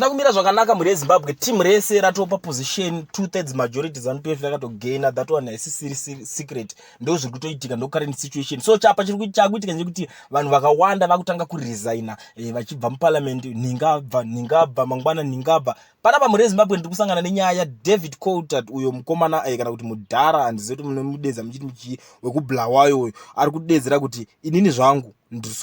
hazvina kumira zvakanaka mhuri yezimbabwe team rese ratopa position two thirds majority zanu pf rakatogaina that one haisisiri secret ndo zviri kutoitika ndo current situation so chapa chiri chakuitika chekuti vanhu vakawanda vakutanga kuresigna eh, vachibva muparliament nhingabva nhingabva mangwana nhingabva panapa mhuri yezimbabwe ndiri kusangana nenyaya yadavid colter uyo mukomana eh, kana kuti mudhara handizivi kuti munemudedza muchiti muchii wekublawayo uyo ari kudedzera kuti inini zvangu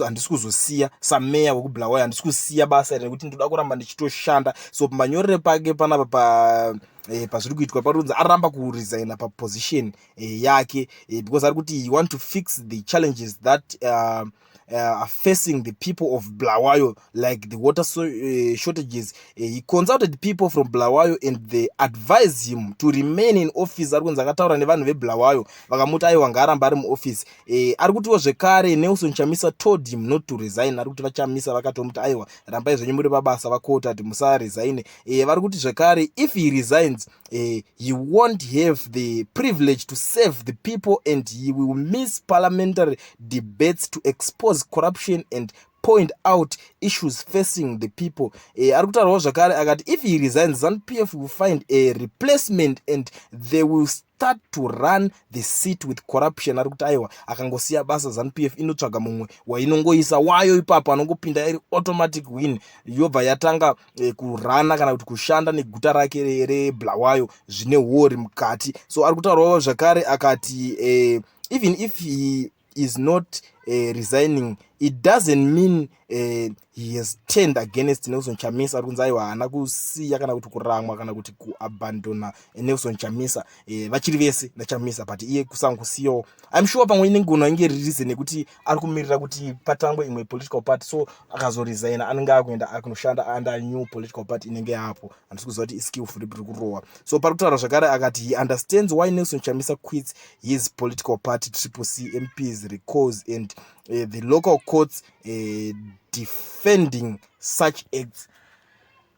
handisi kuzosiya sameya wekubulawayo handisi kusiya basa iri nekuti ndoda kuramba ndichitoshanda so manyorere pake panapa pa eh, pazviri kuitwa paronzi aramba kuresigna paposition eh, yake eh, because ari kuti he want to fix the challenges that uh, uh, are facing the people of blawayo like the water so, uh, shortages uh, he consulted people from blawayo and they advised him to remain in office ari kunzi akataura nevanhu veblawayo vakamuti aiwa ngaaramba ari muoffice uh, ari kutiwo zvekare nelson chamisa told him not to resign ari kuti vachamisa vakatomuti aiwa rambai zvenyu muri pabasa vakotati musaresign uh, vari kuti zvekare if he resigns uh, he won't have the privilege to serve the people and he will miss parliamentary debates to expose corruption and point out issues facing the people e, ari kutaurawo zvakare akati if he resigns zanu p f will find a replacement and they will start to run the seat with corruption ari kuti aiwa akangosiya basa zanu p f inotsvaga mumwe wainongoisa wayo ipapo anongopinda iri automatic win yobva yatanga e, kurana kana kuti kushanda neguta rake reblawayo zvine wori mukati so ari kutaurawo zvakare akati e, even if he is not uh, resigning it doesn't mean uh, he has turned against nelson chamisa ari kunzi aiwa haana kusiya kana kuti kuramwa kana kuti kuabandona nelson chamisa uh, vachiri vese nachamisa but iye kusanga kusiyawo im sure pamwe inengona inge ririse nekuti ari kumirira kuti patangwe imwe political party so akazoresigna anenge akuenda akunoshanda under new political party inenge yapo handisi kuziva kuti iskillful rip riri kurohwa so pari kutaura zvakare akati he understands why nelson chamisa quits his political party triple c mps recalls and uh, the local courts uh, defending such acts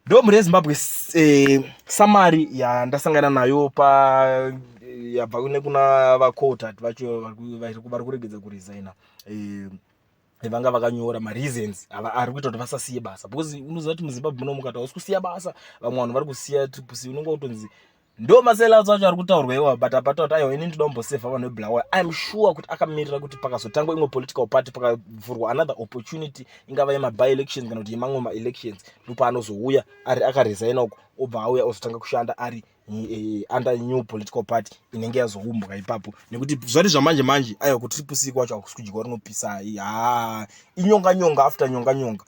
ndo mhuri yezimbabwe uh, samari yandasangana nayo pa yabva nekuna vacotat vacho vari kuregedza kuresigna uh, vanga vakanyora mareasons ari kuita kuti vasasiye basa because unoziva kuti muzimbabwe muno mukati hausi kusiya basa vamwe vanhu vari kusiya triplec unenge kutonzi ndo masells acho ari kutaurwa iwa but apata kuti aiwa ini ndida kumbosevha vanhu veblawa iam sure kuti akamirira kuti pakazotangwa imwe political party pakavhurwa another opportunity ingava yemaby elections kana kuti yemamwe maelections ndopaanozouya ari akaresigna uko obva auya ozotanga kushanda ari eh, under new political party inenge yazoumbwa ipapo nekuti zvati zvamanje manje aiwa kuti ripusiri kwacho hakusi kudyiwa rinopisai haa inyonga nyonga after nyonga nyonga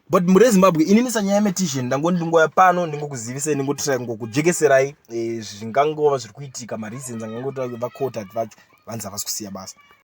but muri ezimbabwe inini sanyaya yemetition ndangoni ndingoya pano ndingokuzivisai ndingotirai ngokujekeserai eh, zvingangova zviri kuitika mareasons angangotirai vacotat vacho vanzi havasi kusiya basa